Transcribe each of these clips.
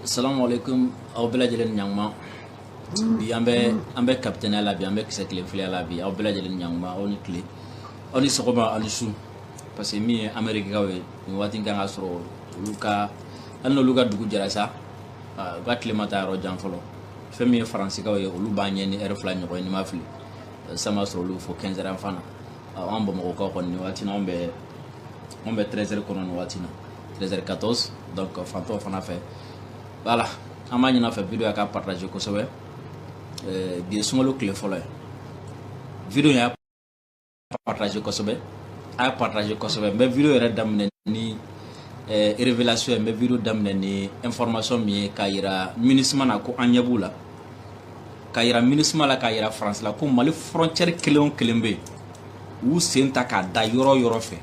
asalamu alaikum aw bɛɛ lajɛlen ɲankuma bi an bɛ an bɛ kapitɛniya la bi an bɛ kisɛ tile filiya la bi aw bɛɛ lajɛlen ɲankuma aw ni tile aw ni sɔgɔma aw ni su parce que min ye amerikikaw ye nin waati kan k'a sɔrɔ olu ka hali n'olu ka dugu jɛra sa u ka tile ma taa yɔrɔ jan fɔlɔ fɛn min ye faransikaw ye olu b'an ɲɛ ni ɛri fila ɲɔgɔn ye ni n ma fili sa a b'a sɔrɔ olu fɛ kɛnzɛri fana an bamakɔkaw kɔni nin waati na anw bɛ anw bɛ tɛrɛsɛri kɔnɔ nin waati na 13h14 donc fan tɔw fana fɛ voilà an b'a ɲin'a fɛ video ya ka partager kosɛbɛ euh, bi ye sunkalo tile fɔlɔ ye video y'a partager kosɛbɛ a y'a partager kosɛbɛ n bɛ video yɛrɛ daminɛ ni euh, révélation ye n bɛ video daminɛ ni information min ye k'a yira minisma na ko an ɲɛ b'u la k'a yira minisma la k'a yira faransi la ko mali frontière kelen o kelen bɛ yen u sen ta k'a da yɔrɔ o yɔrɔ fɛ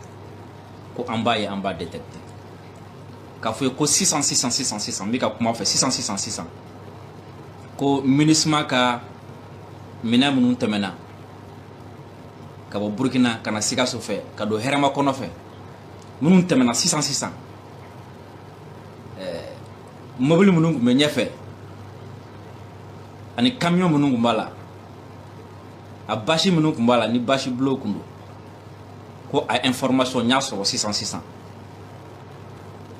ko an b'a ye an b'a détecter k'a fɔ ye ko sisan sisan sisan sisan n bɛ ka kuma aw fɛ sisan sisan sisan ko minisma ka minɛn minnu tɛmɛna ka bɔ burukina ka na sikaso fɛ ka don hɛrɛmakɔnɔ fɛ minnu tɛmɛna sisan sisan eh, mobili minnu tun bɛ ɲɛfɛ ani kamiyon minnu tun b'a la a basi minnu tun b'a la ni basi bleu tun don ko a information n y'a sɔrɔ sisan sisan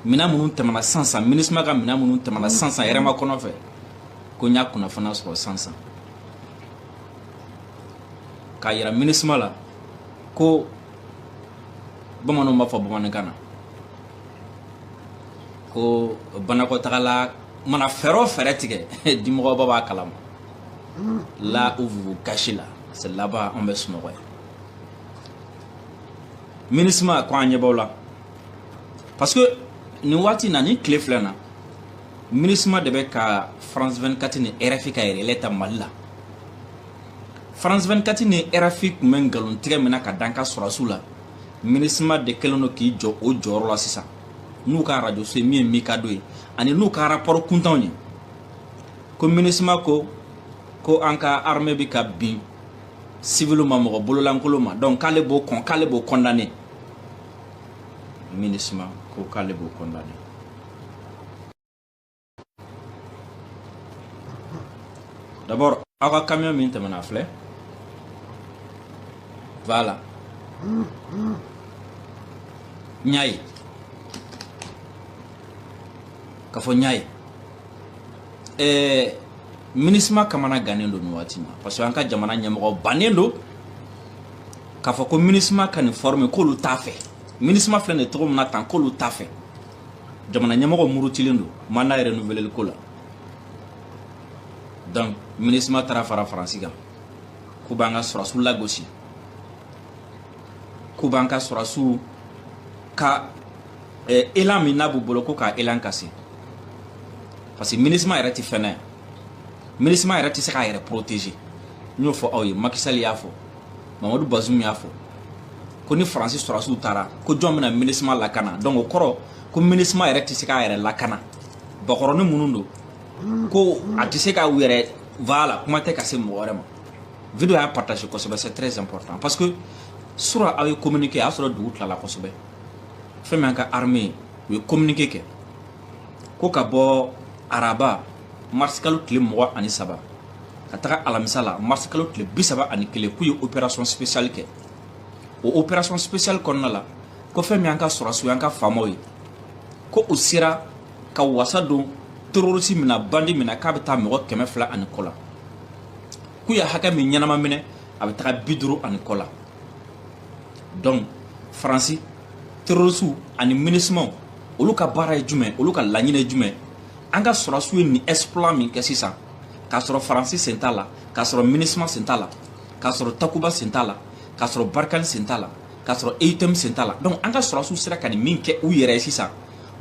minɛn minnu tɛmɛna san san minisma ka minɛn minnu tɛmɛna san san hɛrɛmakɔnɔ fɛ ko n y'a kunnafoniya sɔrɔ san san k'a yira minisma la ko bamananw b'a fɔ bamanankan na ko banakɔtagala mana fɛɛrɛ o fɛɛrɛ tigɛ dimɔgɔba b'a kalama là où vous vous cachez là c'est là-bas an bɛ sunɔgɔ yen minisima ko an ɲɛ b'aw la parce que nin waati na nin tile fila na minisima de bɛ ka france 24 ni rfi ka relais ta mali la france 24 ni rfi tun bɛ nkalon tigɛ min na k'a d'an ka sɔrɔsiw la minisima de kɛlen don k'i jɔ o jɔyɔrɔ la sisan n'u ka arajoso ye min ye mikado ye ani n'u ka rapport kuntanw ye ko minisima ko ko an ka armée bɛ ka bin civil ma mɔgɔ bololankolon ma donc k'ale b'o kɔn k'ale b'o condamner minisma ko k'ale b'o condamner d'abord aw ka camion min tɛmɛna filɛ voilà n y'a ye k'a fɔ n y'a ye ɛɛ minisima kamana gannen don nin waati ma parce que an ka jamana ɲɛmɔgɔ bannen don k'a fɔ ko minisima ka nin forme k'olu t'a fɛ minisima filɛ nin ye cogo min na tan k'olu t'a fɛ jamana ɲɛmɔgɔ murutilen don mandat yɛrɛ renouveleli ko la donc minisima taara fara faransi kan k'u b'an ka sɔrɔsiw lagosi k'u b'an ka sɔrɔsiw ka eh, élan min n'a b'u bolo ko k'a élan casser parce que minisma yɛrɛ tɛ fɛn ye minisma yɛrɛ tɛ se k'a yɛrɛ protéger n y'o fɔ aw ye macky sall y'a fɔ mamadou bazoum y'a fɔ ko ni faransi sɔrɔsiw taara ko jɔn bɛna minisma lakana donc o kɔrɔ ko minisma yɛrɛ tɛ se k'a yɛrɛ lakana bakɔrɔni minnu don ko a tɛ se ka u yɛrɛ voilà kuma tɛ ka se mɔgɔ wɛrɛ ma video y'a partager kosɛbɛ c'est très important parce que sura aw ye communiqué a y'a sɔrɔ dugu tilala kosɛbɛ fɛn min an ka armée u ye communiqué kɛ ko ka bɔ araba marisikalo tile mugan ani saba ka taga alamisa la marisikalo tile bi saba ani kelen k'u ye opération spéciale kɛ o opération spéciale kɔnɔna la ko fɛn min y'an ka sɔrɔsiw y'an ka faamaw ye ko u sera ka wasa don terorisi min na bandi min na k'a bɛ taa mɔgɔ kɛmɛ fila ani kɔ la k'u ye hakɛ min ɲɛnama minɛ a bɛ taga bi duuru ani kɔ la donc faransi terorisiw ani minisimaw olu ka baara ye jumɛn olu ka laɲini ye jumɛn an ka sɔrɔsiw ye nin exploit min kɛ sisan k'a sɔrɔ faransi sen t'a la k'a sɔrɔ minisima sen t'a la k'a sɔrɔ takuba sen t'a la k'a sɔrɔ barkhane sen t'a la k'a sɔrɔ eutm sen t'a la donc an ka sɔrɔsiw sera ka nin min kɛ u yɛrɛ ye sisan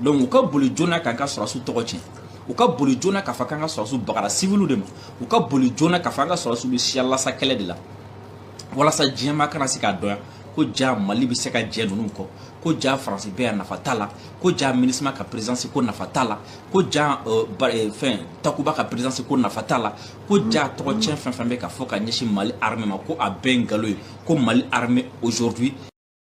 donc u ka boli joona k'an ka sɔrɔsiw tɔgɔ tiɲɛ u ka boli joona k'a fɔ k'an ka sɔrɔsiw bagara siviliw de ma u ka boli joona k'a fɔ an ka sɔrɔsiw bɛ siya lasa kɛlɛ de la walasa diɲɛmaa kana se k'a dɔn ko jaa mali bɛ se ka jɛ ninnu kɔ ko jaa faransi bɛ yan nafa t'a la ko jaa minisima ka perezansi ko nafa t'a la ko jaa euh, euh, fɛn takuba ka perezansi ko nafa t'a la ko jaa tɔgɔ tiɲɛ fɛn fɛn bɛ ka fɔ ka ɲɛsin mali arme ma ko a bɛɛ nkalon ye ko mali arme aujourd'hui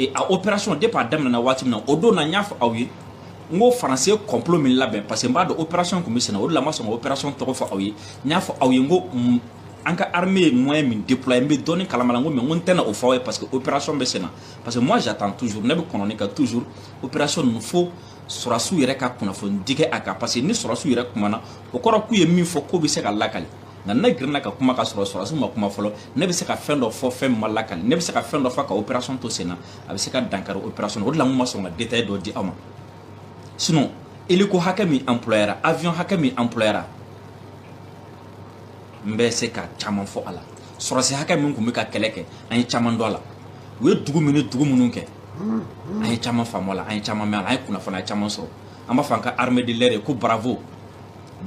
Et à opération départ daminɛna waati min na o don na n y'a fɔ aw ye n ko faransi ye complot min labɛn parce que n b'a dɔn opération tun bɛ senna o de la n ma sɔn ka opération tɔgɔ fɔ aw ye n y'a fɔ aw ye n ko an ka armée ye moyen min déployer n bɛ dɔɔni kalama la n ko mais n ko n tɛna o fɔ aw ye parce que opération bɛ senna parce que moi j'attends toujours ne bɛ kɔnɔni kɛ toujours opération ninnu fo sɔrɔsiw yɛrɛ ka kunnafonidi kɛ a kan parce que ni sɔrɔsiw yɛrɛ kumana o kɔrɔ k'u ye min fɔ k'o bɛ se ka lakali nka ne girinna ka kuma ka sɔrɔ sɔrɔdasi ma kuma fɔlɔ ne bɛ se ka fɛn dɔ fɔ fɛn min ma lakali ne bɛ se ka fɛn dɔ fɔ ka opération to sen na a bɛ se ka dankari opération o de la n ma sɔn ka détail dɔ di aw ma sinon hélico hakɛ min employera avion hakɛ min employera n bɛ se ka caman fɔ a la sɔrɔdasi hakɛ min tun bɛ ka kɛlɛ kɛ an ye caman dɔn a la u ye dugu min ni dugu minnu kɛ an ye caman faamu a la an ye caman mɛn a la an ye kunnafoniya caman sɔrɔ an b'a fɔ an ka armée de l'air ye ko bravo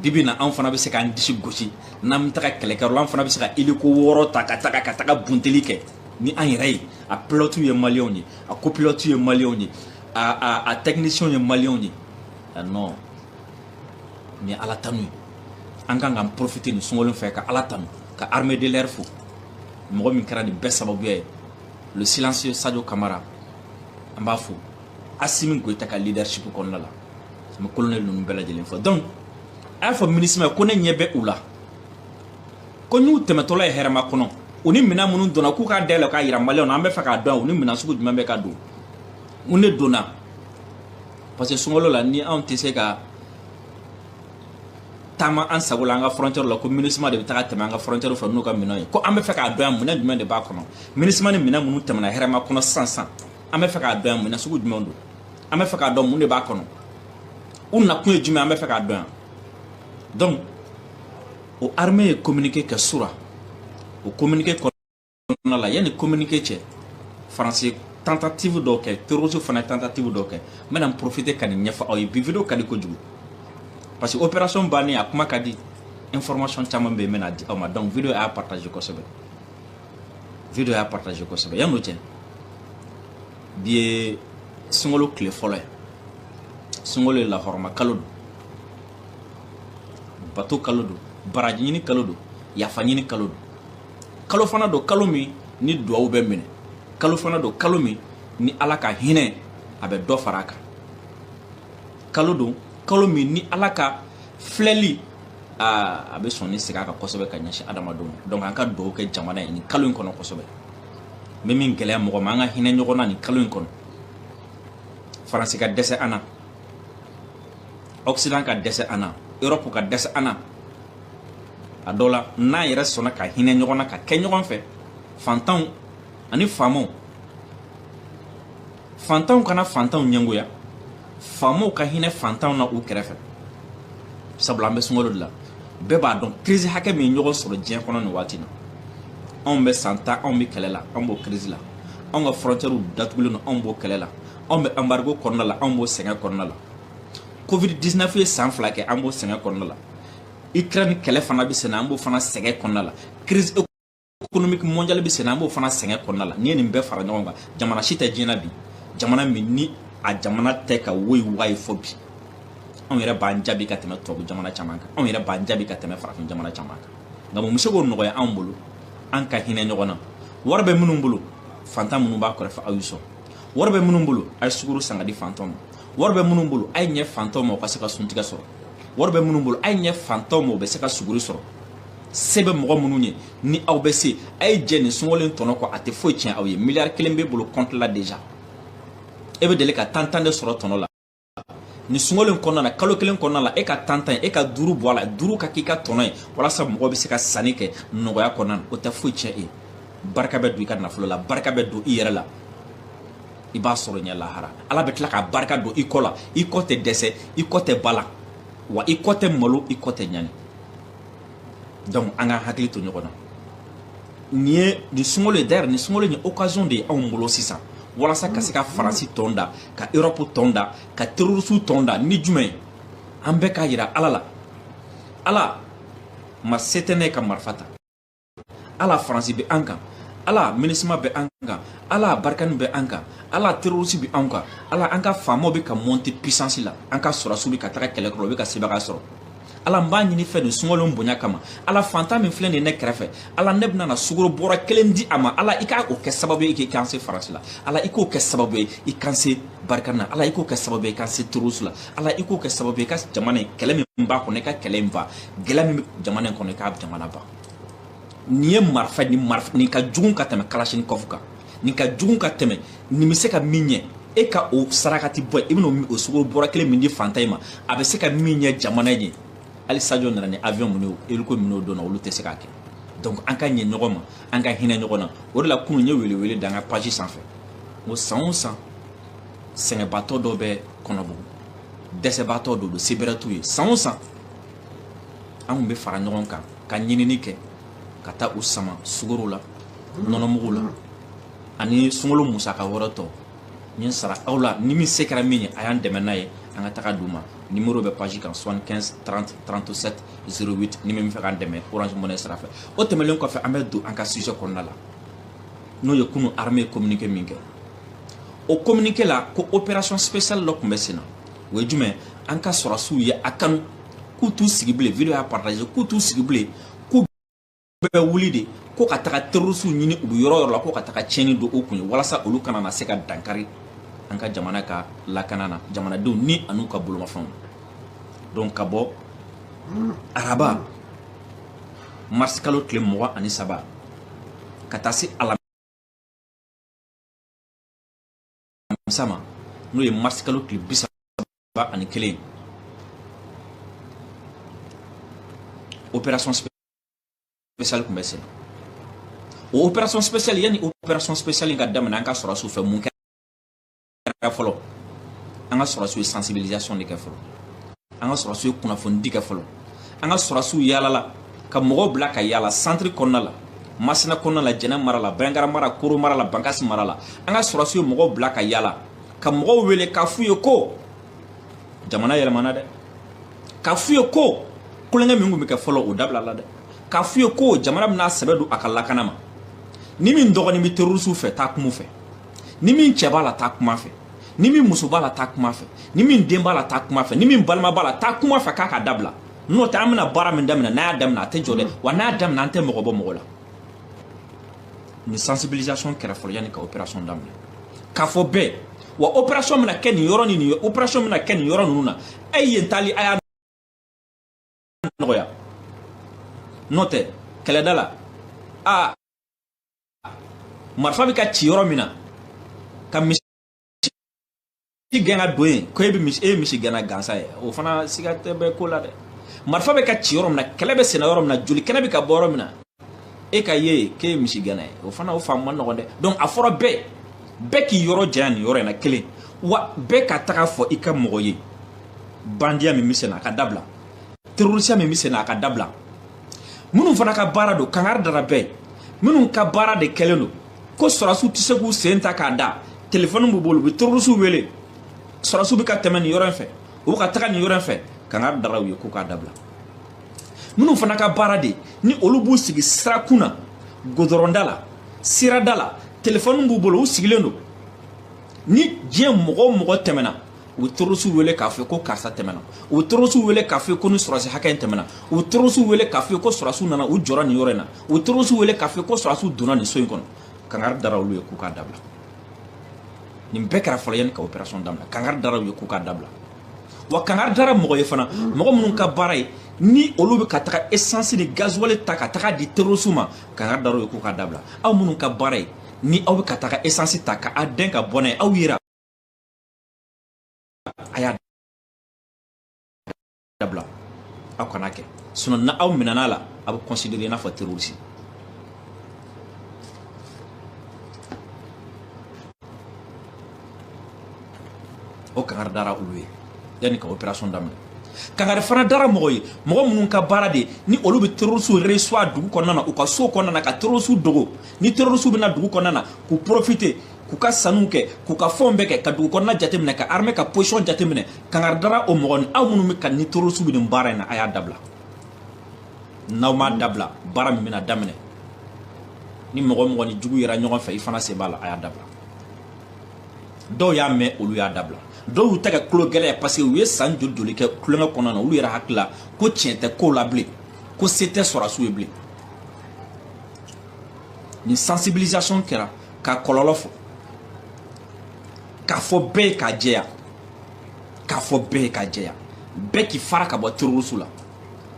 bi bi in na an fana bɛ se k'an disi gosi n'an bɛ taga kɛlɛkɛyɔrɔ la an fana bɛ se ka hélico wɔɔrɔ ta ka taga ka taga bunteli kɛ ni an yɛrɛ ye a pilotew ye maliyɛnw ye a copilotew ye maliyɛnw ye a a a technicienw ye maliyɛnw ye ah, non nin ye ala tanu ye an kan k'an profiter nin sunkalo fɛ ka ala tanu ka armée de l'air fo mɔgɔ min kɛra nin bɛɛ sababuya ye le silencieux Sadio Camara an b'a fo Assimi Goïta ka leadership kɔnɔna la n bɛ colonel ninnu bɛɛ lajɛlen fo donc a y'a fɔ MINUSMA ye ko ne ɲɛ bɛ u la ko n'u tɛmɛtɔla ye Hɛrɛmakɔnɔ u ni minɛn minnu donna k'u k'a dayɛlɛ k'a yira maliyɛnw na an bɛ fɛ k'a dɔn u ni minɛn sugu jumɛn bɛ ka don n ne donna parce que sunkalo la ni anw tɛ se ka taama an sago la an ka frontière la ko MINUSMA de bɛ taga tɛmɛ an ka frontière fɛ n'u ka minɛn ye ko an bɛ fɛ k'a dɔn yan minɛn jumɛn de b'a kɔnɔ MINUSMA ni minɛn minnu tɛmɛna Hɛrɛmakɔnɔ sisan sisan an bɛ fɛ k'a dɔn yan minɛn sugu jumɛn don an bɛ fɛ k'a dɔn mun de b'a kɔnɔ u nakun ye jumɛn an bɛ fɛ k'a dɔn yan donc o armée ye communiqué kɛ sura o communiqué kɔnɔna la yanni communiqué cɛ faransi tentative dɔw kɛ terroristes fana ye tentative dɔw kɛ n bɛna n profiter ka nin ɲɛfɔ aw ye bi video ka di kojugu parce que opération bannen a kuma ka di information caman bɛ yen n bɛna di aw ma donc video y'a partager kosɛbɛ video y'a partager kosɛbɛ yann'o cɛ bi ye sunkalo tile fɔlɔ ye sunkalo ye lahɔrɔma kalo don bato kalo don baraji ɲini kalo don yafa ɲini kalo don kalo fana don kalo min ni duwawu bɛ minɛ kalo fana don kalo min ni ala ka hinɛ a bɛ dɔ fara a kan kalo don kalo min ni ala ka filɛli aa a bɛ sɔn ni segin a kan kosɛbɛ ka ɲɛsin adamadenw ma donc an ka duwawu kɛ jamana ye nin kalo in kɔnɔ kosɛbɛ n bɛ min gɛlɛya mɔgɔ ma an ka hinɛ ɲɔgɔn na nin kalo in kɔnɔ faransi ka dɛsɛ an na occident ka dɛsɛ an na europe ka dɛsɛ an na a dɔ la n'an yɛrɛ sɔnna ka hinɛ ɲɔgɔn na ka kɛ ɲɔgɔn fɛ fantanw ani faamaw fantanw kana fantanw ɲɛngoya faamaw ka hinɛ fantanw na u kɛrɛfɛ sabula an bɛ sunkalo de la bɛɛ b'a dɔn kirisi hakɛ min ye ɲɔgɔn sɔrɔ diɲɛ kɔnɔ nin waati na anw bɛ san tan anw bɛ kɛlɛ la anw b'o kirisi la anw ka fɔrɔntɛriw datugulen don anw b'o kɛlɛ la anw bɛ anbarigo kɔnɔna la anw b'o sɛgɛn kɔnɔna la covid 19 ye san fila kɛ an b'o sɛgɛn kɔnɔna la ukraine kɛlɛ fana bɛ senna an b'o fana sɛgɛn kɔnɔna la crise économique mondiale bɛ sen na an b'o fana sɛgɛn kɔnɔna la n'i ye nin bɛɛ fara ɲɔgɔn kan jamana si tɛ diɲɛ na bi jamana min ni a jamana tɛ ka woyi wayi fɔ bi anw yɛrɛ b'an jaabi ka tɛmɛ tubabu jamana caman kan anw yɛrɛ b'an jaabi ka tɛmɛ farafin jamana caman kan nka mun bɛ se k'o nɔgɔya anw bolo an ka hinɛ ɲɔgɔn na wari bɛ minnu bolo fantan minnu b'a kɛrɛfɛ aw y'u sɔn wari bɛ minnu bolo a ye sukoro san k'a di fantanw ma wari bɛ minnu bolo a ye ɲɛ fantanw ma u ka se ka suntigɛ sɔrɔ wari bɛ minnu bolo a ye ɲɛ fantanw ma u bɛ se ka suguri sɔrɔ se bɛ mɔgɔ minnu ye ni aw bɛ se a ye jɛ nin sunkalo in tɔnɔ kɔ a tɛ foyi tiɲɛ aw ye miliyari kelen b'e bolo kɔnti la deja e bɛ deli ka tan tan de sɔrɔ tɔnɔ la nin sunkalo in kɔnɔna na kalo kelen kɔnɔna la e ka tan tan e ka duuru bɔ a la duuru ka k'i ka tɔnɔ ye walasa mɔgɔ bɛ se ka sanni kɛ nɔgɔya kɔnɔna na o tɛ foyi tiɲɛ e ye barika bɛ don i ka nafolo la barika bɛ don i yɛrɛ la i b'a sɔrɔ i ɲɛ lahara ala bɛ tila ka barika don i kɔ la i kɔ tɛ dɛsɛ i kɔ tɛ balawu i kɔ tɛ malo i kɔ tɛ ɲani donc an ka hakili to ɲɔgɔn na nin ye nin sunkalo ye d'ailleurs nin sunkalo ye occasion de ye anw bolo sisan walasa ka se ka faransi tɔn da ka europe tɔn da ka terrorisiw tɔn da ni jumɛn ye an bɛɛ k'a yira ala la ala ma se tɛ n ye ka marifa ta ala faransi bɛ an kan ala minisima bɛ an kan ala barikani bɛ an kan ala terorisi bɛ an kan ala an ka faamaw bɛ ka monte pisansi la an ka sɔrɔdasiw bɛ ka taga kɛlɛ kɔrɔ u bɛ ka sebagaya sɔrɔ ala n b'a ɲini i fɛ nin sunkalo bonya kama ala fantan min filɛ nin ne kɛrɛfɛ ala ne bɛna na sukoro bɔrɛ kelen di a ma ala i ka o kɛ sababu ye k'i k'an se faransi la ala i k'o kɛ sababu ye i k'an se barikani na ala i k'o kɛ sababu ye i k'an se terorisi la ala i k'o kɛ sababu ye i ka jamana in kɛlɛ min b'a kɔnɔ i ka kɛlɛ in ban kɛlɛ min bɛ jamana in kɔnɔ i k'a jamana ban nin ye marifa nin ka jugun ka tɛmɛ kalasinikɔfu kan nin ka jugun ka tɛmɛ nin bɛ se ka min ɲɛ e ka o sarakati bɔ i bɛna o sukoro bɔrɛ kelen min di fantan in ma a bɛ se ka min ɲɛ jamana ye hali sajo nana ni avion minnu ye eliko minnu donna olu tɛ se k'a kɛ donc an ka ɲɛ ɲɔgɔn ma an ka hinɛ ɲɔgɔn na o de la kunun n ye welewele da an ka page sanfɛ n ko san o san sɛgɛnbaatɔ dɔ bɛ kɔnɔbugu dɛsɛbaatɔ dɔ don se bɛrɛ t'u ye san o san an tun bɛ fara ɲɔgɔn kan ka ɲinini kɛ ka taa u sama sukaro la nɔnɔmugu la ani sunkalo musaka wɛrɛ tɔ n ye sara aw la ni min se kɛra min ye a y'an dɛmɛ n'a ye an ka taga d'u ma numéro bɛ page kan 75 30 37 08 ni min bɛ fɛ k'an dɛmɛ orange money sira fɛ o tɛmɛnlen kɔfɛ an bɛ don an ka sujet kɔnɔna la n'o ye kunu armée ye communiqué min kɛ o communiqué la ko opération spéciale dɔ tun bɛ sen na o ye jumɛn an ka sɔrɔsiw ye a kanu k'u t'u sigi bilen video y'a partage k'u t'u sigi bilen k'u bɛ wuli de ko ka taga terrorisiw ɲini u bɛ yɔrɔ o yɔrɔ la ko ka taga tiɲɛni don u kun yen walasa olu kana na se ka dankari an ka jamana ka lakana na jamanadenw ni an'u ka bolomafɛnw donc ka bɔ araba mars kalo tile mugan ani saba ka taa se ala alamisa ma n'o ye marisi kalo tile bi saba ani kelen opération spéciale tun bɛ sen na o opération spéciale yanni opération spéciale in ka daminɛ an ka sɔrɔsiw fɛ mun kɛra fɔlɔ an ka sɔrɔsiw ye sensibilisation de kɛ fɔlɔ an ka sɔrɔsiw ye kunnafonidi kɛ fɔlɔ an ka sɔrɔsiw yaalala ka mɔgɔw bila ka yaala santiri kɔnɔna la masina kɔnɔna la jɛnɛ mara la banjagara mara koro mara la bankasi mara la an ka sɔrɔsiw ye mɔgɔw bila ka yaala ka mɔgɔw wele k'a f'u ye ko jamana yɛlɛmana dɛ k'a f'u ye ko tulonkɛ min tun bɛ kɛ fɔlɔ o dabilala dɛ k'a f'u ye ko jamana bɛna sɛbɛ don a ka lakana ma ni min dɔgɔnin bɛ terorisiw fɛ taa kuma fɛ ni min cɛ b'a la taa kuma fɛ ni min muso b'a la taa kuma fɛ ni min den b'a la taa kuma fɛ ni min balima b'a la taa kuma fɛ k'a ka dabila n'o tɛ an bɛna baara min daminɛ n'an y'a daminɛ a tɛ jɔ dɛ wa n'an y'a daminɛ an tɛ mɔgɔ bɔ mɔgɔ la nin sensibilisation kɛra fɔlɔ yanni ka opération daminɛ k'a fɔ bɛɛ wa opération bɛna kɛ nin yɔrɔ ni nin opération bɛna kɛ nin yɔrɔ ninnu na a ye yen taali a y'a nɔgɔya n'o tɛ kɛlɛda la a marifa bɛ ka ci yɔrɔ min na ka misi gɛn ka don yen ko e bɛ misi e ye misigɛnna gansan ye o fana siga de bɛ ko la dɛ marifa bɛ ka ci yɔrɔ min na kɛlɛ bɛ senna yɔrɔ min na joli kɛnɛ bɛ ka bɔ yɔrɔ min na e ka ye k'e ye misigɛnna ye o fana o faamu man nɔgɔn dɛ donc a fɔra bɛɛ bɛɛ k'i yɔrɔ janya nin yɔrɔ in na kelen wa bɛɛ ka taga fɔ i ka mɔgɔ ye bandiya min bɛ senna a ka dabila terorisiya min bɛ senna a ka dabila minnu fana ka baara don kangari dara bɛɛ minnu ka baara de kɛlen don ko sɔrɔsiw tɛ se k'u sen ta k'a da telefɔni b'u bolo u bɛ terorisiw wele sɔrɔsiw bɛ ka tɛmɛ nin yɔrɔ in fɛ u bɛ ka taga nin yɔrɔ in fɛ kangari dara u ye k'u k'a dabila minnu fana ka baara de ni olu b'u sigi sirakun na godɔrɔnda la sirada la telefɔni b'u bolo u sigilen don ni diɲɛ mɔgɔ o mɔgɔ tɛmɛna u bɛ terorisiw wele k'a fɔ ko karisa tɛmɛna u bɛ terorisiw wele k'a fɔ ko nin sɔrɔsi hakɛ in tɛmɛna u bɛ terorisiw wele k'a fɔ ko sɔrɔsiw nana u jɔra nin yɔrɔ in na u bɛ terorisiw wele k'a fɔ ko sɔrɔsiw donna nin so in kɔnɔ kangari dara olu ye k'u k'a dabila nin bɛɛ kɛra fɔlɔ yanni ka operation daminɛ kangari dara u ye k'u k'a dabila wa kangari dara mɔgɔ ye fana mɔgɔ minnu ka baara ye ni olu bɛ ka taga esansi ni gazuwali ta ka taga di terorisiw ma kangari dara u ye k'u k'a dabila aw minnu ka baara ye ni aw bɛ ka taga esansi ta ka a dɛn ka bɔ n'a ye aw yera a y'a dabila aw kan'a kɛ sinon n'aw minɛna a la a bɛ considéré i n'a fɔ terroriste o kangari dara olu ye yanni ka operation daminɛ kangari fana dara mɔgɔ ye mɔgɔ minnu ka baara de ni olu bɛ terorisiw reçoit dugu kɔnɔna na u ka so kɔnɔna na ka terorisiw dogo ni terorisiw bɛ na dugu kɔnɔna na k'u profite k'u ka sanniw kɛ k'u ka fɛnw bɛɛ kɛ ka dugu kɔnɔna jateminɛ ka armée ka position jateminɛ kangari dara o mɔgɔ ni aw minnu bɛ ka ni terorisiw bɛ nin baara in na a y'a dabila n'aw m'a dabila baara min bɛna daminɛ ni mɔgɔ o mɔgɔ ni jugu yera ɲɔgɔn fɛ i fana sen b'a la a y'a dabila dɔw y'a mɛn olu y'a dabila dɔw y'u ta kɛ tulo gɛlɛya parce que u ye san joli joli kɛ tulonkɛ kɔnɔna na olu yɛrɛ hakili la ko tiɲɛ tɛ kow la bilen ko se tɛ sɔrɔdasiw ye bilen nin sensibilisation kɛra ka kɔlɔlɔ fɔ k'a fɔ bɛɛ ye k'a jɛya k'a fɔ bɛɛ ye k'a jɛya bɛɛ k'i fara ka bɔ terorisiw la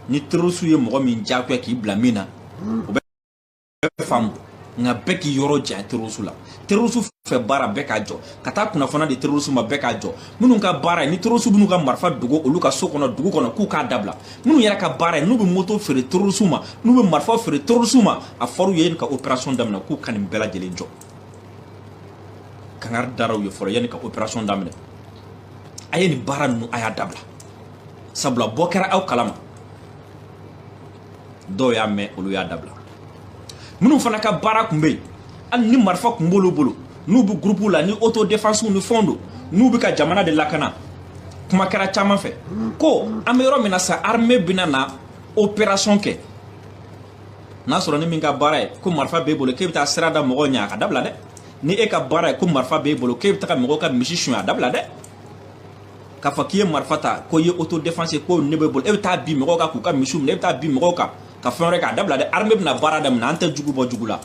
ni terorisiw ye mɔgɔ min diyagoya k'i bila min na o bɛ faamu nka bɛɛ k'i yɔrɔ janya terroristes la terroristes fɛ baara bɛɛ k'a jɔ ka taa kunnafoniya di terroristes ma bɛɛ k'a jɔ minnu ka baara ye ni terroristes minnu ka marifa dogo olu ka so kɔnɔ dugu kɔnɔ k'u k'a dabila minnu yɛrɛ ka baara ye n'u bɛ moto feere terroristes ma n'u bɛ marifa feere terroristes ma a fɔr'u ye yanni ka opération daminɛ k'u ka nin bɛɛ lajɛlen jɔ kangari dara u ye fɔlɔ yanni ka opération daminɛ a ye nin baara ninnu a y'a dabila sabula bɔ kɛra aw kalama dɔw y'a mɛn olu y'a dabila minnu fana ka baara kun bɛ yen hali ni marifa kun b'olu bolo n'u bɛ gurupuw la ni auto defensiw ni fɛnw don n'u bɛ ka jamana de lakana kuma kɛra caman fɛ ko an bɛ yɔrɔ min na sa armée bɛna na opération kɛ n'a sɔrɔ ni min ka baara ye ko marifa b'e bolo k'e bɛ taa sira da mɔgɔw ɲɛ a k'a dabila dɛ ni e ka baara ye ko marifa b'e bolo k'e bɛ taa mɔgɔw ka misi suɲɛ a dabila dɛ k'a fɔ k'i ye marifa ta ko i ye auto défense ye ko nin b'e bolo e bɛ taa bin mɔgɔw kan k'u ka misiw minɛ e bɛ taa bin mɔgɔw kan ka fɛn wɛrɛ k'a dabila dɛ armée bɛna baara daminɛ an tɛ jugu bɔ jugu la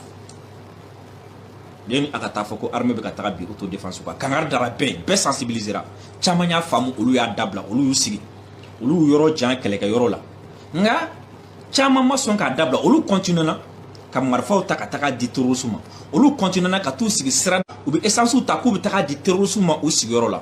yanni a ka taa fɔ ko armée bɛ ka taga bin auto défense kan kangari dara bɛɛ bɛɛ sensibilisera caman y'a faamu olu y'a dabila olu y'u sigi olu y'u yɔrɔ jan kɛlɛkɛ yɔrɔ la nka caman ma sɔn k'a dabila olu continuera ka marifaw ta ka taga di terrorisiw ma olu continuera ka t'u sigi sira u bɛ essence ta k'u bɛ taga di terrorisiw ma u sigiyɔrɔ la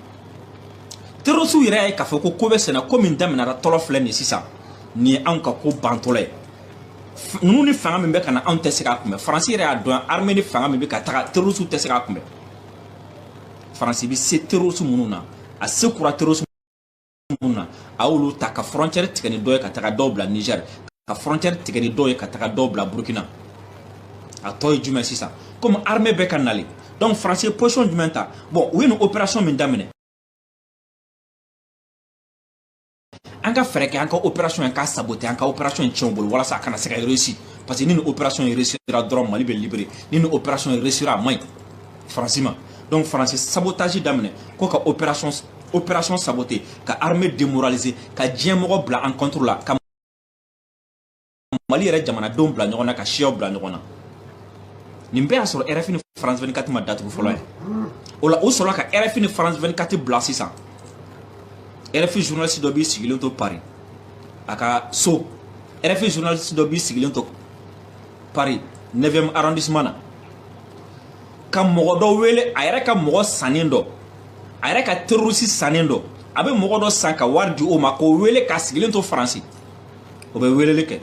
terrorisiw yɛrɛ y'a ye k'a fɔ ko ko bɛ senna ko min daminɛra tɔlɔ filɛ nin sisan nin ye anw ka ko bantɔla ye ninnu ni fanga min bɛ ka na anw tɛ se k'a kunbɛn faransi yɛrɛ y'a dɔn armée ni fanga min bɛ ka taga terrorisiw tɛ se k'a kunbɛn faransi bɛ se terrorisi minnu na a se kura terrorisi minnu na a y'olu ta ka frontière tigɛ ni dɔ ye ka taga dɔw bila Niger ka frontière tigɛ ni dɔw ye ka taga dɔw bila Burkina a tɔ ye jumɛn sisan komi armée bɛ ka nalen donc France ye position jumɛn ta bon u ye nin opération min daminɛ an ka fɛɛrɛ kɛ an ka opération in k'a saboter an ka opération in tiɲɛ u bolo walasa a kana se ka réussir parce que ni nin opération in réussira dɔrɔn Mali bɛ libérer ni nin opération in réussira a man ɲi France ma donc France ye sabotage daminɛ ko ka opération opération saboter ka armée démoraliser ka diɲɛ mɔgɔ bila an contre la ka mali yɛrɛ jamanadenw bila ɲɔgɔn na ka siyaw bila ɲɔgɔn na nin bɛɛ y'a sɔrɔ rfi ni france 24 ma datugu fɔlɔ ye o la o sɔrɔla ka rfi ni france 24 bila sisan rfi journaliste dɔ b'i sigilen to paris a ka so rfi journaliste dɔ b'i sigilen to paris 9e arrondissement na ka mɔgɔ dɔ wele a yɛrɛ ka mɔgɔ sannen dɔ a yɛrɛ ka terorisi sannen dɔ a bɛ mɔgɔ dɔ san ka wari di o ma k'o wele k'a sigilen to faransi o bɛ weleli kɛ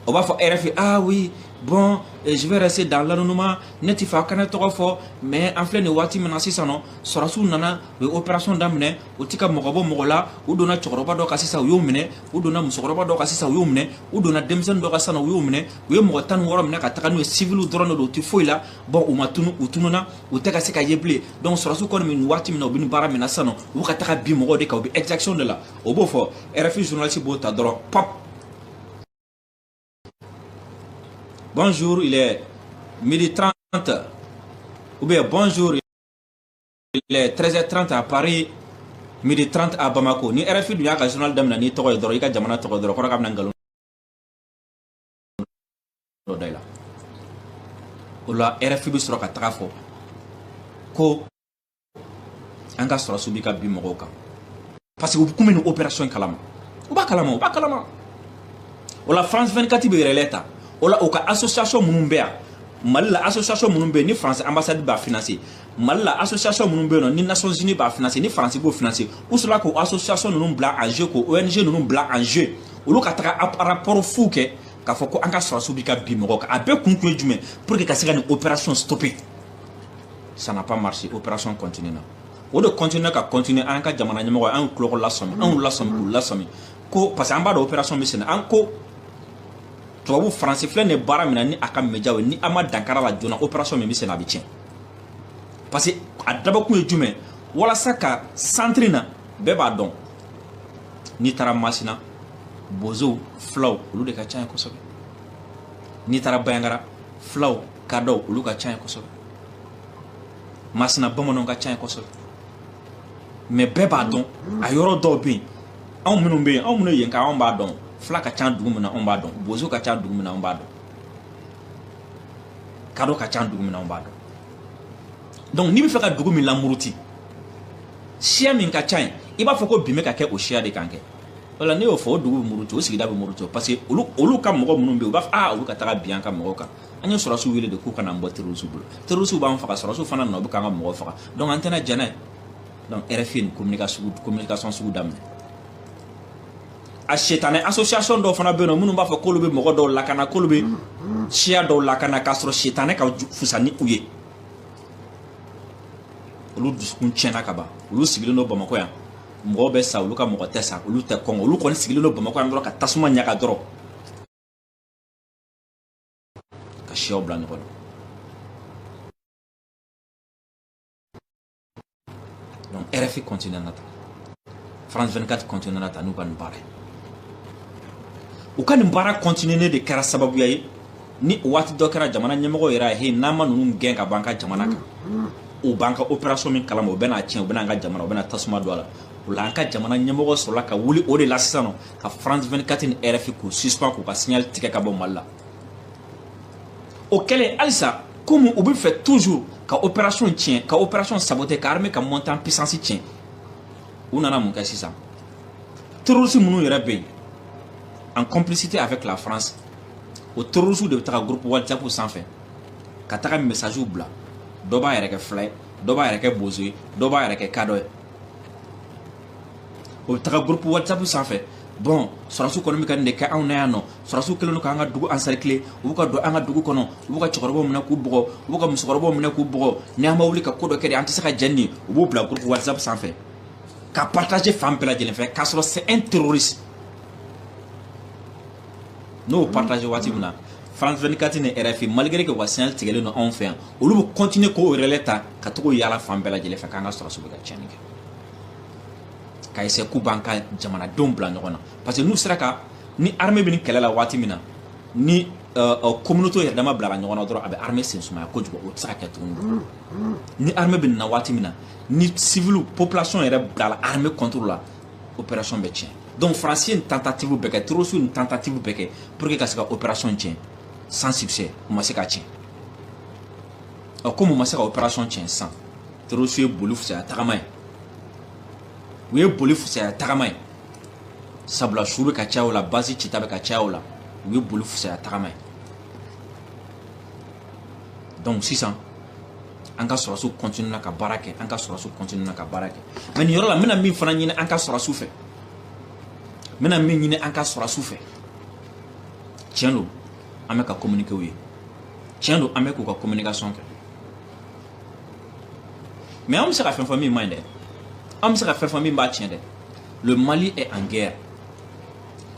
o b'a fɔ rfi ah oui bon je vais rester dans l'anonymat ne t'a fɛ aw ka ne tɔgɔ fɔ mais an filɛ nin waati min na sisan nɔ sɔrɔsiw nana u ye opération daminɛ u ti ka mɔgɔ bɔ mɔgɔ la u donna cɛkɔrɔba dɔ kan sisan u y'o minɛ u donna musokɔrɔba dɔ kan sisan u y'o minɛ u donna denmisɛnnin dɔ kan sisan u y'o minɛ u ye mɔgɔ tan ni wɔɔrɔ minɛ ka taga n'u ye siviliw dɔrɔn de don u ti foyi la bon u ma tunun u tununna u tɛ ka se ka ye bilen donc sɔrɔsiw kɔni bɛ nin waati min na u bɛ nin baara min na sisan nɔ u bɛ ka taga bin mɔgɔw de kan u bɛ exaction de la o b'o fɔ rfi journaliste b'o ta dɔrɔn pop bonjour il est midi 30 ou bien bonjour 13h30 à Paris midi 30 à Bamako ni RFI dun y'a ka journal daminɛ n'i tɔgɔ ye dɔrɔn i ka jamana tɔgɔ ye dɔrɔn kɔrɔ k'a bɛna nkalon dɔ da i la o la RFI bɛ sɔrɔ ka taga fɔ ko an ka sɔrɔsiw bi ka bin mɔgɔw kan parce que u kun bɛ nin opération in kalama u b'a kalama u b'a kalama o la france 24 bɛ relais ta o la u ka association minnu bɛ yan mali la association minnu bɛ yen ni france ambassade b'a financer mali la association minnu bɛ yen nɔ ni nations unies b'a financer ni france b'o financer u sɔrɔla k'o association ninnu bila en jeu k'o ong ninnu bila en jeu olu ka taga rapport fu kɛ k'a fɔ ko an ka sɔrɔsiw bɛ ka bin mɔgɔw kan a bɛɛ kun kun ye jumɛn pour que ka se ka nin opération stopper ça n'a pas marché opération continue na o de continuer ka continuer an ka jamana ɲɛmɔgɔ an kulɔgɔ lasɔmi an y'u lasɔmi k'u lasɔmi ko parce que an b'a dɔn opération bɛ senna an ko tubabu faransi filɛ nin baara min na ni a ka médiaw ye ni an ma dankari a la joona opération min bɛ senna a bɛ tiɲɛ parce que a dabɔkun ye jumɛn walasa ka centre na bɛɛ b'a dɔn n'i taara masina bozow fulaw olu de ka ca yen kosɛbɛ n'i taara banjagara fulaw kadɔw olu ka ca yen kosɛbɛ masina bamananw ka ca yen kosɛbɛ mais bɛɛ b'a dɔn a yɔrɔ dɔw bɛ yen anw minnu bɛ yen anw minnu ye yenka anw b'a dɔn fila ka ca dugu min na anw b'a dɔn bozo ka ca dugu min na anw b'a dɔn kadɔ ka ca dugu min na anw b'a dɔn donc n'i bɛ fɛ ka dugu min lamuruti siya min ka ca yen i b'a fɔ ko bin bɛ ka kɛ o siya de kan kɛ o la n'i y'o fɔ o dugu bɛ muruti o sigida bɛ muruti parce que olu olu ka mɔgɔ minnu bɛ yen u b'a fɔ aa olu ka taga bin an ka mɔgɔw kan an ye sɔrɔsiw wele de k'u ka na an bɔ terorisiw bolo terorisiw b'an faga sɔrɔsiw fana nɔ bɛ k'an ka mɔgɔ faga donc an tɛna jɛn n'a ye donc rfi nin communication sugu daminɛ a setanɛ association dɔw fana bɛ yen nɔ minnu b'a fɔ k'olu bɛ mɔgɔ dɔw lakana k'olu bɛ siya dɔw lakana k'a sɔrɔ setanɛ ka fusa ni u ye olu dusukun tiɲɛna ka ban olu sigilen don bamakɔ yan mɔgɔw bɛ sa olu ka mɔgɔ tɛ sa olu tɛ kɔngɔ olu kɔni sigilen don bamakɔ yan dɔrɔn ka tasuma ɲaga dɔrɔn ka siyaw bila ɲɔgɔn na donc rfi continuer na taa france 24 continuer na taa n'u ka nin baara ye u ka nin baara continuer nen de kɛra sababuya ye ni waati dɔ kɛra jamana ɲɛmɔgɔw yɛrɛ y'a ye n'an ma ninnu gɛn ka b'an ka jamana kan u b'an ka opération min kalama u bɛn'a tiɲɛ u bɛna an ka jamana u bɛna tasuma don a la o la an ka jamana ɲɛmɔgɔ sɔrɔla ka wuli o de la sisan nɔ ka france 24 ni rfi k'u suspend k'u ka signal tigɛ ka bɔ mali la o kɛlen halisa komi u bɛ fɛ toujours ka opération tiɲɛ ka opération saboter ka armée ka montée en puissance tiɲɛ u nana mun kɛ sisan terroriste minnu yɛrɛ bɛ yen en complicité avec la france o terroriste de bɛ taga groupe whatsapp sanfɛ ka taga message bila dɔ b'a yɛrɛ kɛ fila ye dɔ b'a yɛrɛ kɛ bozo ye dɔ b'a yɛrɛ kɛ kadɔ ye o bɛ taga groupe whatsapp sanfɛ bon sɔrɔsiw kɔni bɛ ka nin de kɛ anw na yan nɔ sɔrɔsiw kɛlen don k'an ka dugu encercler u b'u ka don an ka dugu kɔnɔ u b'u ka cɛkɔrɔbaw minɛ k'u bugɔ u b'u ka musokɔrɔbaw minɛ k'u bugɔ ni an ma wuli ka ko dɔ kɛ de an tɛ se ka jɛn nin u b'u bila groupe whatsapp sanfɛ ka partager fan bɛɛ lajɛlen fɛ k'a sɔrɔ c'est un terroriste n'o partager waati min na France 24 ni RFI malgré que u ka signal tigɛlen don anw fɛ yan olu bɛ continuer k'o relais ta ka to k'o yaala fan bɛɛ lajɛlen fɛ k'an ka sɔrɔsiw bɛ ka tiɲɛni kɛ ka essayer k'u b'an ka jamanadenw bila ɲɔgɔn na parce que n'u sera ka ni armée bɛ nin kɛlɛ la waati min na ni euh, euh, communauté yɛrɛ dama bilala ɲɔgɔn na dɔrɔn a bɛ armée sen sumaya kojugu o tɛ se ka kɛ tuguni ni armée bɛ nin na waati min na ni civil population yɛrɛ bilala armée contre la opération bɛ tiɲɛ donc faransi ye nin tentative bɛɛ kɛ terroriste nin tentative bɛɛ kɛ pour que ka se ka opération tiɲɛ sans succès u ma se ka tiɲɛ ɔ komi u ma se ka opération tiɲɛ sisan terroriste ye boli fusaya tagama ye u ye boli fusaya tagama ye sabula su bɛ ka caya o la base cita bɛ ka caya o la u ye boli fusaya tagama ye donc sisan an ka sɔrɔsiw continue na ka baara kɛ an ka sɔrɔsiw continue na ka baara kɛ mais nin yɔrɔ la n bɛna min fana ɲini an ka sɔrɔsiw fɛ n bɛna min ɲini an ka sɔrɔsiw fɛ tiɲɛ don an bɛ ka communiquer u ye tiɲɛ don an bɛ k'u ka communication kɛ mais an bɛ se ka fɛn fɔ min man ɲi dɛ an bɛ se ka fɛn fɔ min b'a tiɲɛ dɛ le mali est en guerre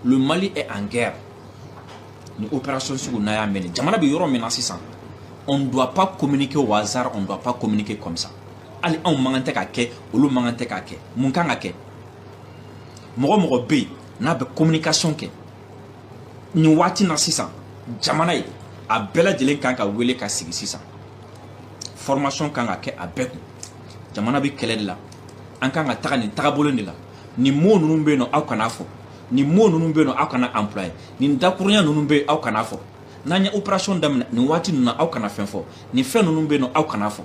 le mali est en guerre nin opération sugu n'a y'a mɛn jamana bɛ yɔrɔ min na sisan on ne doit pas communiquer au hasard on ne doit pas communiquer comme ça hali anw man kan tɛ k'a kɛ olu man kan tɛ k'a kɛ mun kan ka kɛ mɔgɔ mɔgɔ bɛ yen n'a bɛ communication kɛ nin waati na sisan jamana ye a bɛɛ lajɛlen kan ka wele ka sigi sisan formation kan ka kɛ a bɛɛ kun jamana bɛ kɛlɛ de la an kan ka taga nin tagabolo de la nin mot ninnu bɛ yen nɔ aw kana a fɔ nin mot ninnu bɛ yen nɔ aw kana employer nin dakurunya ninnu bɛ yen aw kana a fɔ n'an ye opération daminɛ nin waati ninnu na aw kana fɛn fɔ nin fɛn ninnu bɛ yen nɔ aw kana a fɔ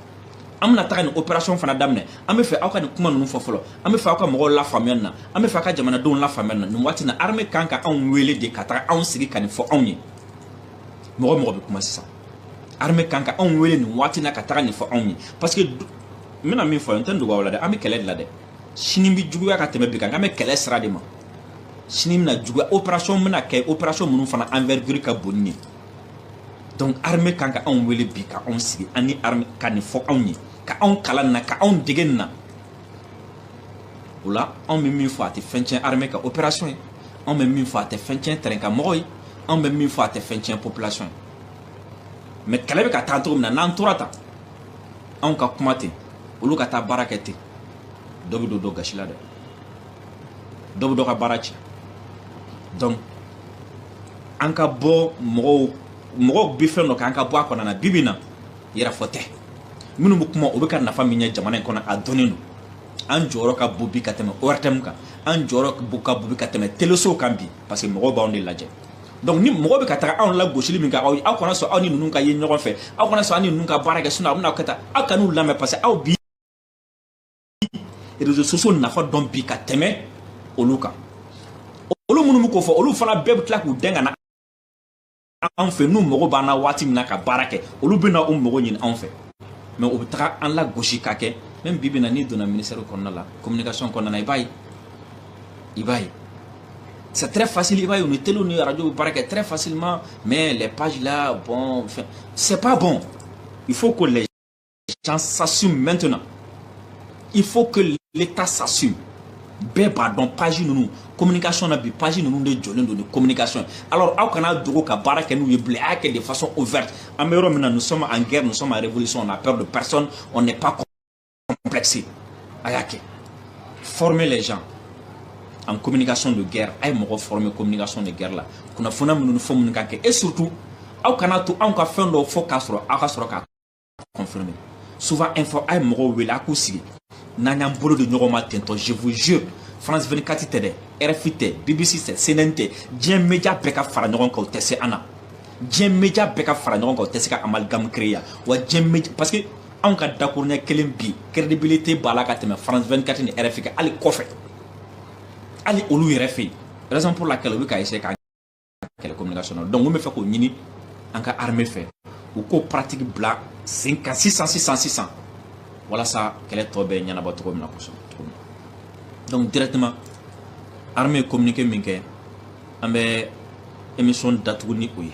an bɛna taga nin opération fana daminɛ an bɛ fɛ aw ka nin kuma ninnu fɔ fɔlɔ an bɛ fɛ aw ka mɔgɔw lafaamuya nin na an bɛ fɛ aw ka jamanadenw lafaamuya nin na nin waati na armée kan ka anw wele de ka taga anw sigi ka nin fɔ anw ye mɔgɔ mɔgɔ bɛ kuma sisan armée kan ka anw wele nin waati na ka taga nin fɔ anw ye parce que n bɛna min fɔ n tɛ n dogo aw la dɛ an bɛ kɛlɛ de la dɛ sini bɛ juguya ka tɛmɛ bi kan an bɛ kɛlɛ sira de ma sini bɛna juguya opération bɛna kɛ opération minnu fana envergure ka bon nin ye donc armée kan ka anw wele bi ka anw sigi ani armée ka nin fɔ anw ye ka anw kalan na ka anw dege na o la anw bɛ min fɔ a tɛ fɛn tiɲɛ armée ka opération ye anw bɛ min fɔ a tɛ fɛn tiɲɛ terrain kan mɔgɔw ye anw bɛ min fɔ a tɛ fɛn tiɲɛ population ye mais kɛlɛ bɛ ka taa cogo min na n'an tora tan anw ka kuma ten olu ka taa baara kɛ ten dɔ bɛ don dɔ gasi la dɛ dɔ bɛ dɔ ka baara tiɲɛ donc an ka bɔ mɔgɔw mɔgɔw bɛ fɛn dɔ kɛ an ka bɔ a kɔnɔna na bi bi in na yɛrɛfɔ tɛ minnu bɛ kuma o bɛ ka nafa min ɲɛ jamana in kɔnɔ a dɔnnen don an jɔyɔrɔ ka bon bi ka tɛmɛ ORTM kan an jɔyɔrɔ ka bon bi ka tɛmɛ telesow kan bi parce que mɔgɔw b'anw de lajɛ donc ni mɔgɔ bɛ ka taga anw lagosili min kɛ aw kana sɔn aw ni ninnu ka ye ɲɔgɔn fɛ aw kana sɔn aw ni ninnu ka baara kɛ sinon a bɛna aw kɛ tan aw kan'u lamɛn parce que aw bi réseaux sociaux nafa dɔn bi ka tɛmɛ olu kan olu minnu bɛ k'o fɔ olu fana bɛɛ bɛ tila k'u dɛn ka na anw fɛ n'u mago b'an na waati min na ka baara kɛ olu bɛ na u mago ɲini anw fɛ mais u bɛ taga an lagosi ka kɛ même bi bi in na n'i donna ministère kɔnɔna la communication kɔnɔna na i b'a ye i b'a ye c'est très facile i b'a ye u ni telew ni radio bɛ baara kɛ très facilement mais les pages là bon c'est pas bon il faut que les gens s'assument maintenant. Il faut que l'État s'assume. bɛɛ b'a dɔn page ninnu communication na bi page ninnu de jɔlen don ni communication alors aw kana dogo ka baara kɛ n'u ye bilen a y'a kɛ de façon ouverte an bɛ yɔrɔ min na nous sommes en guerre nous sommes en révolution on n'a peur de personne on n'est pas complexé a y'a kɛ former les gens en communication de guerre a ye mɔgɔ former communication de guerre la kunnafoniya minnu ni fɛn minnu ka kɛ et surtout aw kana to anw ka fɛn dɔw fɔ k'a sɔrɔ aw ka sɔrɔ ka confirmer souvent info a ye mɔgɔw wele a k'u sigi n'an y'an bolo di ɲɔgɔn ma tentɔ je vous jure france 24 tɛ dɛ rfi tɛ bbc tɛ cnn tɛ diɲɛ media bɛɛ ka fara ɲɔgɔn kan u tɛ se an na diɲɛ media bɛɛ ka fara ɲɔgɔn kan u tɛ se ka amalgame créer yan wa diɲɛ media parce que anw ka dakuruɲɛ kelen bi crédibilité b'a la ka tɛmɛ france 24 ni rfi kan hali kɔfɛ hali olu yɛrɛ fɛ yen raison pour laquelle u bɛ ka essayer ka kɛlɛ communication na donc n bɛ fɛ k'o ɲini an ka armée fɛ u k'o pratique bila sen kan sisan sisan sisan walasa kɛlɛ tɔ bɛ ɲɛnabɔ cogo min na kosɛbɛ donc directement armée ye communiqué min kɛ an bɛ émission datugu ni o ye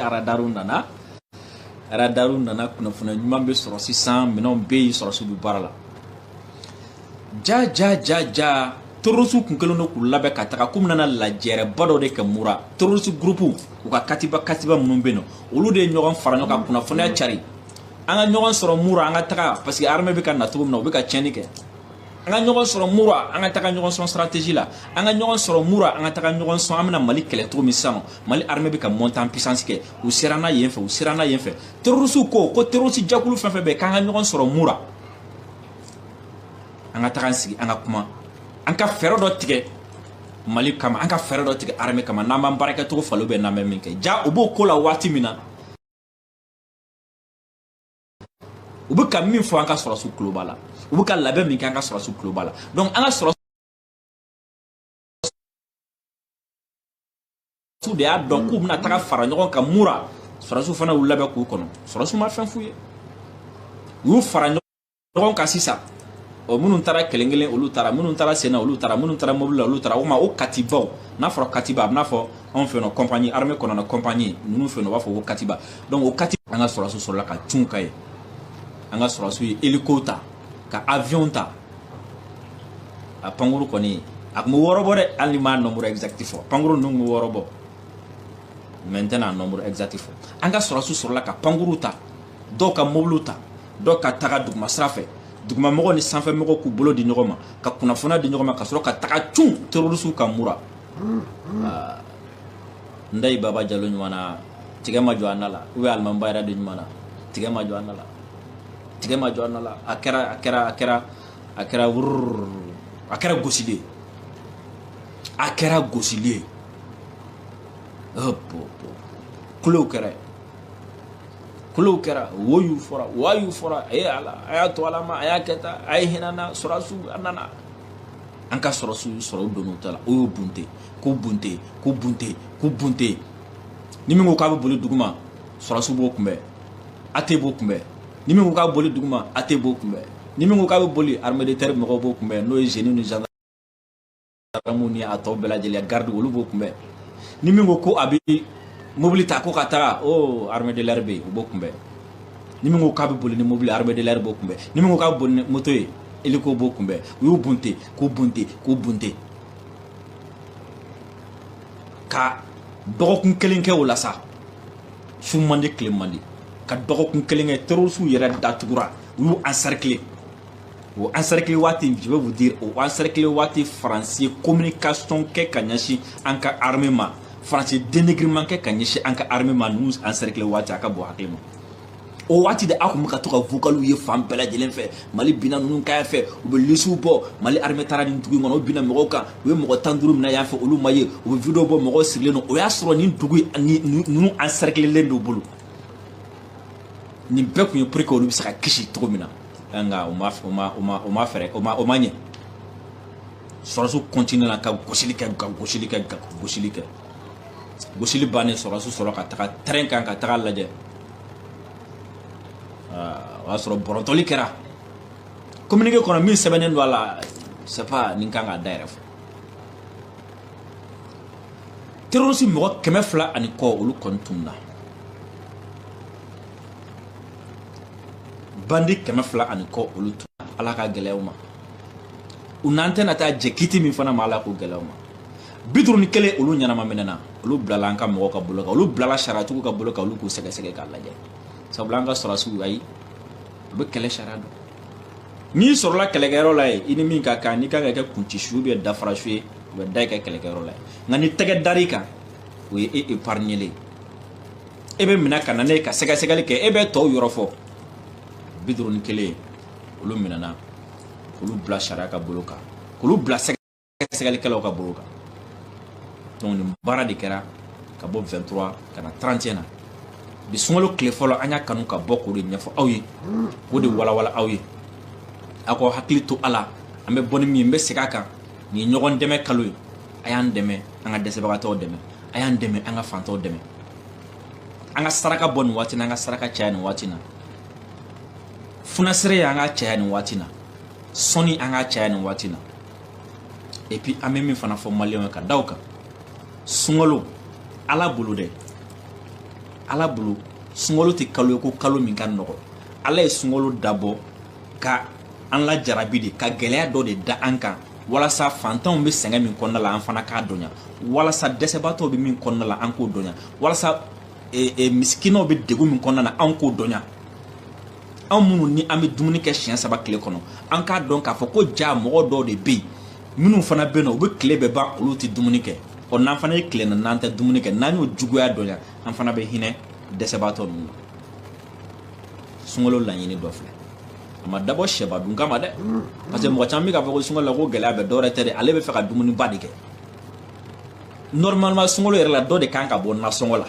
aradaru nana aradaru nana kunnafoniya ɲuman bɛ sɔrɔ sisan minɛnw bɛ yen sɔrɔdasiw bɛ baara la ja ja ja ja terrorisiw kun kɛlen don k'u labɛn ka taga k'u bɛna lajɛrɛba dɔ de kɛ mura terrorisi gurupuw u ka katiba katiba minnu bɛ yen nɔ olu de ye ɲɔgɔn fara ɲɔgɔn kan kunnafoniya cari an ka ɲɔgɔn sɔrɔ mura an ka taga parce que armée bɛ ka na cogo min na u bɛ ka tiɲɛni kɛ an ka ɲɔgɔn sɔrɔ mura an ka taga ɲɔgɔn sɔn stratégie la an ka ɲɔgɔn sɔrɔ mura an ka taga ɲɔgɔn sɔn an bɛna mali kɛlɛ cogo min sisan mali armée bɛ ka montée en puissance kɛ u siranna yen fɛ u siranna yen fɛ terrorisiw ko ko terrorisi jɛkulu fɛn fɛn bɛ k'an ka ɲɔgɔn sɔrɔ mura an ka taga an sigi an ka kuma an ka fɛɛrɛ dɔ tigɛ mali kama an ka fɛɛrɛ dɔ tigɛ armée kama n'an b'an baarakɛcogo falen bɛ n'an bɛ min kɛ ja u b'o ko la waati min na u bɛ ka min fɔ an ka sɔrɔsiw tulo b'a la u bɛ ka labɛn min kɛ an ka sɔrɔsiw tulo b'a la donc an ka sɔrɔsiw de y'a dɔn k'u bɛna taga fara ɲɔgɔn kan mura sɔrɔsiw fana y'u labɛn k'u kɔnɔ sɔrɔsiw ma fɛn f'u ye u y'u fara ɲɔgɔn kan sisan o minnu taara kelen kelen olu taara minnu taara sen na olu taara minnu taara mobili la olu taara o ma o katibaw n'a fɔra katiba a bɛn'a fɔ anw fɛ yan nɔ compagnie armée kɔnɔna compagnie ninnu fɛ yen nɔ u b'a fɔ ko katiba donc o kati an ka sɔrɔdasiw sɔrɔla ka cun ka ye an ka sɔrɔdasiw ye hélico ta ka avion ta a pankuru kɔni a tun bɛ wɔɔrɔ bɔ dɛ hali ni n m'a nombre exact fɔ pankuru ninnu tun bɛ wɔɔrɔ bɔ mais n tɛna nombre exact fɔ an ka sɔrɔdasiw sɔrɔla ka pankuru ta dɔw ka mobiliw ta dɔw ka taga duguma sira fɛ dugumamɔgɔ ni sanfɛmɔgɔ k'u bolo di ɲɔgɔn ma ka kunnafoniya di ɲɔgɔn ma ka sɔrɔ ka taga cun terorisiw kan mura ah, ndayi baba jalo ɲuman na tigɛ ma jɔ an da la ou bien alimami ba yɛrɛ de ɲuman na tigɛ ma jɔ an da la tigɛ ma jɔ an da la a kɛra a kɛra a kɛra a kɛra wurururu a kɛra gosili ye a kɛra gosili ye kulow kɛra ye kulow kɛra woyu fɔra wayu fɔra a ye ala a y'a to ala ma a y'a kɛ tan a ye hinɛ na sɔrɔsiw a nana an ka sɔrɔsiw sɔrɔ u donna u ta la u y'u bunte k'u bunte k'u bunte k'u bunte ni min ko k'a bɛ boli duguma sɔrɔsiw b'o kunbɛn AT b'o kunbɛn ni min ko k'a bɛ boli duguma AT b'o kunbɛn ni min ko k'a bɛ boli armée de terre mɔgɔw b'o kunbɛn n'o ye génie ni gendarmew ni a tɔ bɛɛ lajɛlen garde olu b'o kunbɛn ni min ko ko a bɛ mobili ta ko ka taga o armée de l'air bɛ yen o b'o kunbɛn ni min ko k'a bɛ boli ni mobili armée de l'air b'o kunbɛn ni min ko k'a bɛ boli ni moto ye hélico b'o kunbɛn u y'u bunte k'u bunte k'u bunte ka dɔgɔkun kelen kɛ o la sa su man di tile man di ka dɔgɔkun kelen kɛ terrorisiw yɛrɛ datugura u y'u encercler o encercler waati je vais vous dire o encercler waati faransi communication kɛ ka ɲɛsin an ka armée ma faransi dénigrement kɛ ka ɲɛsin an ka armée ma ninnu encercler waati a ka bon hakili ma o waati de aw tun bɛ ka to ka vocaliw ye fan bɛɛ lajɛlen fɛ mali binna ninnu kan fɛ u bɛ lisiw bɔ mali armée taara nin dugu in kɔnɔ u binna mɔgɔw kan u ye mɔgɔ tan duuru minɛ yan fɛ olu ma ye u bɛ video bɔ mɔgɔw sirilen don o y'a sɔrɔ nin dugu ninnu encercler len don bolo nin bɛɛ tun ye pour que olu bɛ se ka kisi cogo min na nka o ma o ma o ma o ma fɛɛrɛ o ma o ma ɲɛ sɔrɔdasiw kɔntinena ka gosili kɛ ka gosili kɛ ka gosili kɛ gosili bannen sɔrɔdasiw sɔrɔ ka taga tɛrɛn kan ka taga lajɛ o y'a sɔrɔ bɔrɔntɔli kɛra kominike kɔnɔ min sɛbɛnnen don a la sais pas ni n kan k'a da yɛrɛ fɔ terorisi mɔgɔ kɛmɛ fila ani kɔ olu kɔni tununa bandi kɛmɛ fila ani kɔ olu tununa ala k'a gɛlɛya u ma u n'an tɛna taa jɛ kiti min fana ma ala k'o gɛlɛya u ma bi duuru ni kelen olu ɲɛnama minɛna olu bilala an ka mɔgɔw ka bolo kan olu bilala sariyatigiw ka bolo kan olu k'u sɛgɛsɛgɛ k'a lajɛ sabula an ka sɔrɔdasiw ayi u bɛ kɛlɛ sariya dɔn n'i sɔrɔla kɛlɛkɛyɔrɔ la yen i ni min ka kan n'i kan ka kɛ kunci su ye ou bien dafara su ye u bɛ da i ka kɛlɛkɛyɔrɔ la yen nka ni tɛgɛ dar'i kan o ye e épargnélen ye e bɛ minɛ ka na n'e ye ka sɛgɛsɛgɛli kɛ e bɛ tɔw yɔrɔ fɔ bi duuru ni kelen olu minɛna k'olu bila sariya ka bolo kan k'olu bila sɛgɛsɛgɛlikɛlaw ka bolo kan donc nin baara de kɛra ka bɔ 23 ka na 31 na bi sunkalo tile fɔlɔ an y'a kanu ka bɔ k'o de ɲɛfɔ aw ye k'o de walawala aw ye aw k'aw hakili to a la an bɛ bɔ ni min ye n bɛ segin a kan nin ye ɲɔgɔn dɛmɛ kalo ye a y'an dɛmɛ an ka dɛsɛbagatɔw dɛmɛ a y'an dɛmɛ an ka fantanw dɛmɛ an ka saraka bɔ nin waati na an ka saraka caya nin waati na funasereya an k'a caya nin waati na sɔnni an k'a caya nin waati na et puis an bɛ min fana fɔ maliyɛnw ye ka da o kan sunkalo ala bolo dɛ ala bolo sunkalo tɛ kalo ye ko kalo min ka nɔgɔ ala ye sunkalo dabɔ ka an lajarabi de ka gɛlɛya dɔ de da an kan walasa fantanw bɛ sɛgɛn min kɔnɔna la an fana k'a dɔnya walasa dɛsɛbaatɔw bɛ min kɔnɔna la an k'o dɔnya walasa e, e, misikinaw bɛ degun min kɔnɔna na an k'o dɔnya anw minnu ni an bɛ dumuni kɛ siɲɛ saba tile kɔnɔ an k'a dɔn k'a fɔ ko jaa mɔgɔ dɔw de bɛ yen minnu fana bɛ yen nɔ u bɛ tile bɛɛ ban olu tɛ dumuni kɛ ɔ n'an fana ye tile na n'an tɛ dumuni kɛ n'an y'o juguya dɔnya an fana bɛ hinɛ dɛsɛbaatɔ ninnu na sunkalo laɲini dɔ filɛ a ma dabɔ sɛba dun kama dɛ parce que mɔgɔ caman bɛ k'a fɔ ko sunkalo la ko gɛlɛya bɛ dɔwɛrɛ tɛ dɛ ale b'a fɛ ka dumuniba de kɛ normalement sunkalo yɛrɛ la dɔ de kan ka bɔ nasɔngɔ la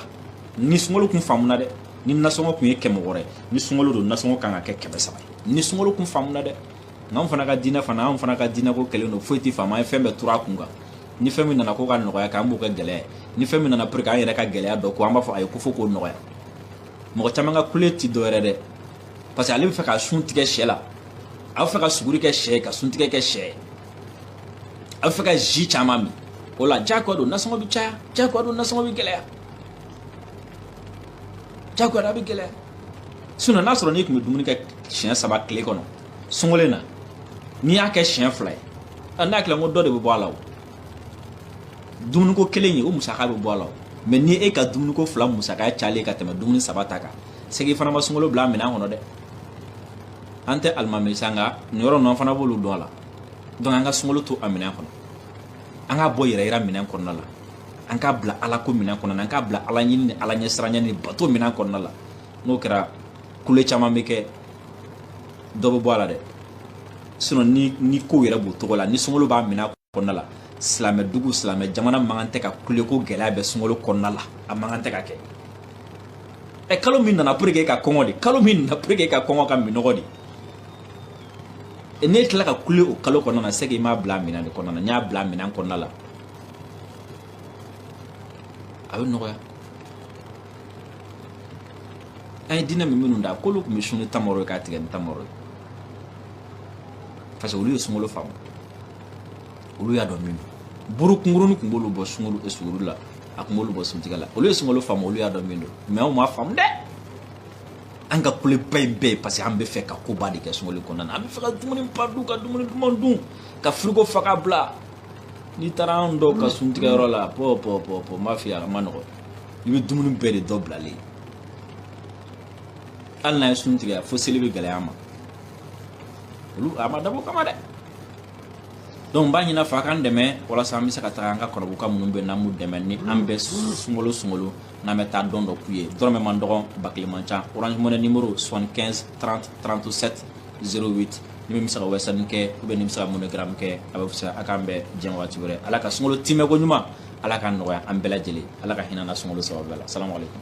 ni sunkalo kun faamuna dɛ ni nasɔngɔ tun ye kɛmɛ wɔɔrɔ ye ni sunkalo don nasɔngɔ kan ka kɛ kɛmɛ saba ye ni sunkalo kun faamuna dɛ nka anw fana ka diinɛ fana anw fana ka diinɛ ko kɛlen don foyi tɛ faamu an ye fɛn bɛɛ turu a kun kan ni fɛn min nana ko ka nɔgɔya kɛ an b'o kɛ gɛlɛya ye ni fɛn min nana pour que an yɛrɛ ka gɛlɛya dɔn ko an b'a fɔ ayi ko fo k'o nɔgɔya mɔgɔ caman ka kule ti dɔwɛrɛ dɛ parce que ale bɛ fɛ ka sun tigɛ sɛ la a bɛ fɛ ka suguri kɛ sɛ ye ka sun tigɛ kɛ sɛ ye a bɛ fɛ ka ji caman min o la jagoya don nasɔngɔ bɛ caya jagoya don nasɔngɔ bɛ gɛlɛya jagoya bɛ gɛlɛya sinon n'a sɔrɔ n'i tun bɛ dumuni kɛ siɲɛ saba tile kɔnɔ sunkalo la n'i y'a kɛ siɲɛ fila ye n'a kɛra n ko dɔ de bɛ bɔ a la o dumuniko kelen ye o musaka bɛ bɔ a la mais ni e ka dumuniko fila musaka cayalen ka tɛmɛ dumuni saba ta kan c'est que fana ma sunkalo bila minɛn kɔnɔ dɛ an tɛ alimami sa nka nin yɔrɔ ninnu an fana b'olu dɔn a la donc an ka sunkalo to a minɛn kɔnɔ an k'a bɔ yɛrɛ yira minɛn kɔnɔna la an k'a bila ala ko minɛn kɔnɔna na an k'a bila ala ɲini ni ala ɲɛsiranya ni bato minɛn kɔnɔna la n'o kɛra kule caman bɛ kɛ dɔ bɛ bɔ a la dɛ sinon ni ni kow yɛrɛ b'o cogo la ni sunkalo b'a minɛn kɔnɔna la silamɛ dugu silamɛ jamana man kan tɛ ka kule ko gɛlɛya bɛ sunkalo kɔnɔna la a man kan tɛ ka kɛ ɛ kalo min nana pour que e ka kɔngɔ de kalo min nana pour que e ka kɔngɔ ka minɔgɔ de e, n'e tila ka kule o kalo kɔnɔna na c'est que i m'a bila minɛn de kɔnɔna na n'i y'a bila minɛn kɔnɔna la a bɛ nɔgɔya an ye diinɛ mɛn minnu da k'olu tun bɛ sun ni tamaro ye k'a tigɛ ni tamaro ye parce que olu ye sunkalo faamu olu y'a dɔn min don buru kunkurunin tun b'olu bɔ sunkalo eh, suguri la a tun b'olu bɔ suntigɛ la olu ye sunkalo faamu olu y'a dɔn min don mais anw m'a faamu dɛ an ka kuleba in bɛɛ ye parce que an bɛ fɛ ka koba de kɛ sunkalo kɔnɔna na an bɛ fɛ ka dumuni ba dun ka dumuni duman dun ka frigo fa ka bila n'i taara an dɔw ka suntigɛyɔrɔ la pɔ pɔ pɔ pɔ n b'a f'i ye a man nɔgɔn i bɛ dumuni bɛɛ de dɔ bilalen hali n'a ye sun tigɛ fo seli bɛ gɛlɛya a ma olu a ma dabɔ o kama dɛ donc n b'a ɲin'a fɛ a k'an dɛmɛ walasa an bɛ se ka taga an ka kɔrɔbuka minnu bɛ n'an b'u dɛmɛ ni an bɛ sunkalo sunkalo n'an bɛ taa don dɔ k'u ye dɔrɔmɛ man dɔgɔn ba kelen man ca orange money numéro 75 30 37 08 ni min bɛ se ka western kɛ ou bien ni bɛ se ka moneygram kɛ a bɛ fisaya a k'an bɛn diɲɛ waati wɛrɛ ala ka sunkalo timɛ ko ɲuman ala k'a nɔgɔya an bɛɛ lajɛlen ala ka hinɛ an na sunkalo sababu la salamu aleykum